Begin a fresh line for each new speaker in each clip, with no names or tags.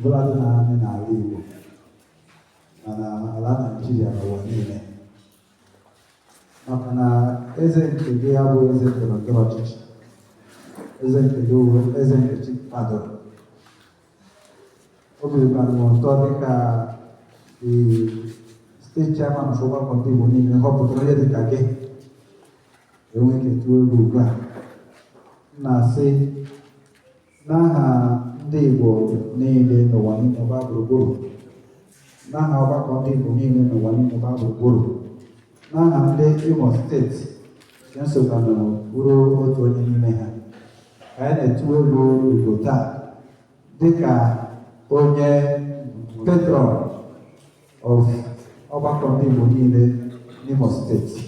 Bụladị na anyị n'ala Igbo ma n'ala Naijiria n'ụwa niile maka na eze nke gị abụghị eze ndọrọ ndọrọ ọchịchị eze nke gị wụ eze nke chi kwadoro obi bara m ụtọ dịka the steeti chairman of ọgbakọ ndị Igbo niile họpụtara onye dịka gị enweghị ike tụọ egwu ugbu a m na-asị n'aha ndị Igbo niile n'ụwa niile gbaa gburugburu n'aha ọgbakọ ndị Igbo niile n'ụwa niile gbaa gburugburu n'aha ndị Imo steeti nke m sokwa nọ bụrụ otu onye n'ime ha ka anyị na-etu olu Igbo taa dịka onye patron of ọgbakọ ndị Igbo niile n'Imo steeti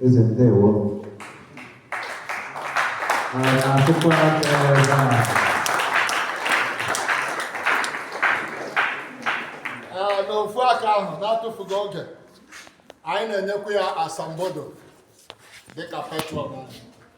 eze ndewo
n'ofu aka ahụ na-atụfughị oge anyị na-enyekwa ya asambodo dịka patron anyị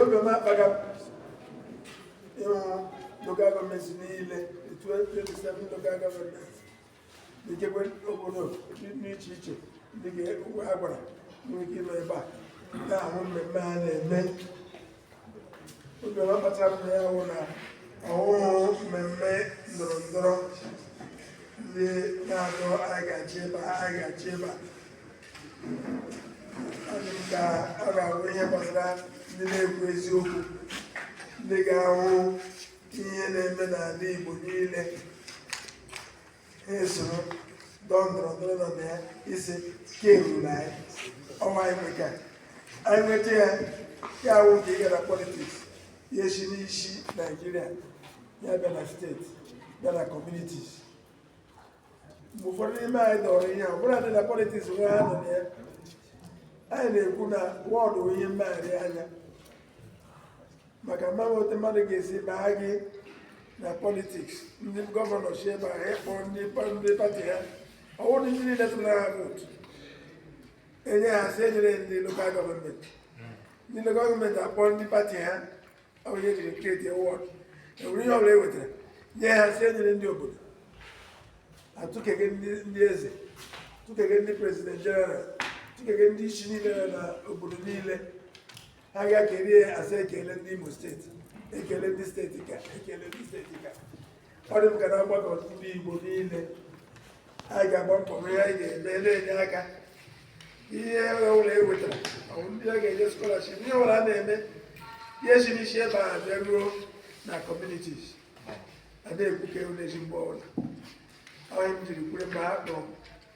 oge m kpagharịrị local government niile the 27 local government ikekwe obodo dị iche iche ndị a gwara nwere ike ịnọ ebe a na-ahụ mmemme a na-eme Oge kpatara m bịa wụ na ọ wụhụ mmemme ndọrọ ndọrọ ndị na-adọ anyị ga-achị ebe a, anyị ga-achị ebe a. Ọ dị m ka ọ ga-abụ ihe gbasara ndị na-ekwu eziokwu ndị ga-ahụ ihe na-eme n'ala Igbo niile na-esoro ndọrọ ndọrọ ndọrọ nọ na ya isi ka eruru na ya ọnwa anyị nweta anyị nweta ya ya awụ nke ịga na politiks ya si n'isi naijiria ya bịa na steeti bịa na kọmunitis mgbe ụfọdụ n'ime anyị dọrọ ihe ọbụla dị na politiks nwe ha nọ na ya anyị na-ekwu na wọdụ ihe mmegharị anya maka ma e nwee otu mmadụ ga-esi baa gị na politiks ndị gọvanọ si ebe a akpọ ndị pati ha ọ wụrụ ndị niile tụrụ ha vootu enye ha sị enyere ndị lokal gọọmenti ndị lokal gọọmenti akpọ ndị pati ha onye jiri kreti wọd enwere ihe ọbụla e wetara nye ha sị enyere ndị obodo atụkege ndị eze tụkege ndị prezident jeneral tụkege ndị isi niile na obodo niile ha ga-ekele a sị ekele ndị Imo steeti ekele ndị steeti ka ekele ndị steeti ka ọ dị m ka na mgbakọ ndị Igbo niile anyị ga-agba mbọ ihe anyị ga-eme na-enye aka ihe ọbụla e wetara ndị a ga-enye skọlaship ihe ọbụla a na-eme ihe si n'isi ebe a bịa ruo na kọmunitis a na-ekwuke na-esi mgbe ọbụla onye m jiri kwure mgbe ha kpọrọ